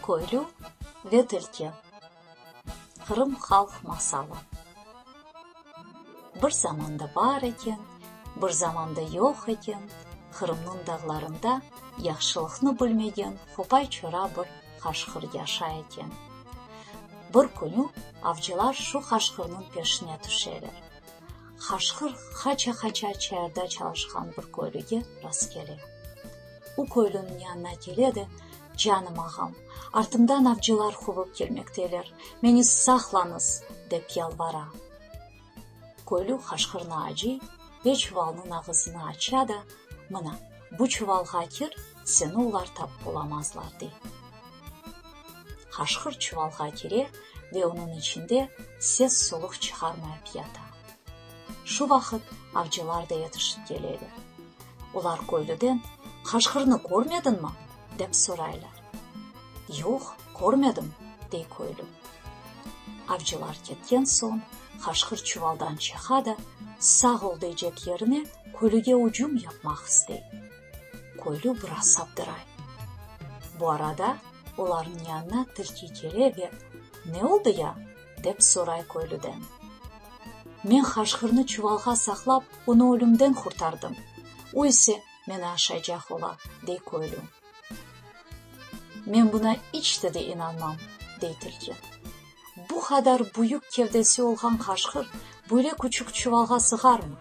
Köylü ve tilki. Qırım halq masalı. Bir zamanda bar eken, bir zamanda yoq eken, Qırımnıñ dağlarında yahşılıqnı bilmegen hopay-çora bir. qaşqır yaşay eken. Bir künü avcılar şu qaşqırnıñ peşine tüşeler. Qaşqır qaça-qaça çayırda çalışqan bir köylüge rastkele. O köylüniñ yanına kele de, Canım ağam, artımdan avcılar quvıp kelmekteler, meni saqlañız! dep yalvara. Köylü qaşqırnı acıy ve çuvalnıñ ağızını aça da, Mına, bu çuvalğa kir, seni ular tapıp olamazlar, dey. Qaşqır çuvalğa kire ve onıñ içinde ses-soluq çıqarmayıp yata. Şu vaqıt avcılar da yetişip keleler. Olar köylüden, Qaşqırnı körmediñmi? dep soraylar. Yoq, körmedim, dey köylü. Avcılar ketken soñ, qaşqır çuvaldan çıqa da, sağ ol deycek yerine, kölüge ucum yapmaq istey. Köylü biraz saptıray. Bu arada olarnıñ yanına tilki kele ve, Ne oldı ya? dep soray köylüden. Men qaşqırnı çuvalğa saqlap, onı ölümden qurtardım. O ise, meni aşaycaq ola, dey köylü. Men buna iç de de inanmam, dey tilki. Bu qadar büyük kevdesi olğan qaşqır böyle küçük çuvalğa sığarmı?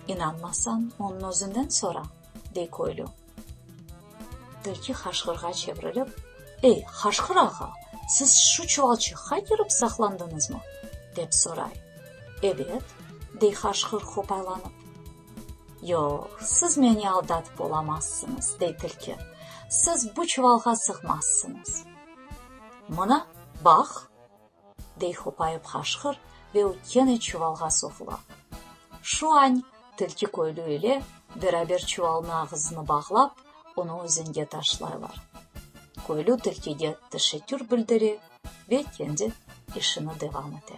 İnanmasan, onıñ özünden sora, dey köylü. Tilki qaşqırğa çevrilip, Ey, qaşqır ağa, siz şu çuvalçıqqa kirip saqlandıñızmı? dep soray. Ebet, dey qaşqır qopaylanıp. Yoq, siz meni aldatıp olamazsıñız, dey tilki, siz bu çuvalğa sığmazsıñız. Mına, baq! dey hopayıp qaşqır ve o kene çuvalğa soğula. Şu añ tilki köylü ile beraber çuvalnı ağızını bağlap, onı özenge taşlaylar. Köylü tilkige teşekkür bildire ve kendi işini devam ete.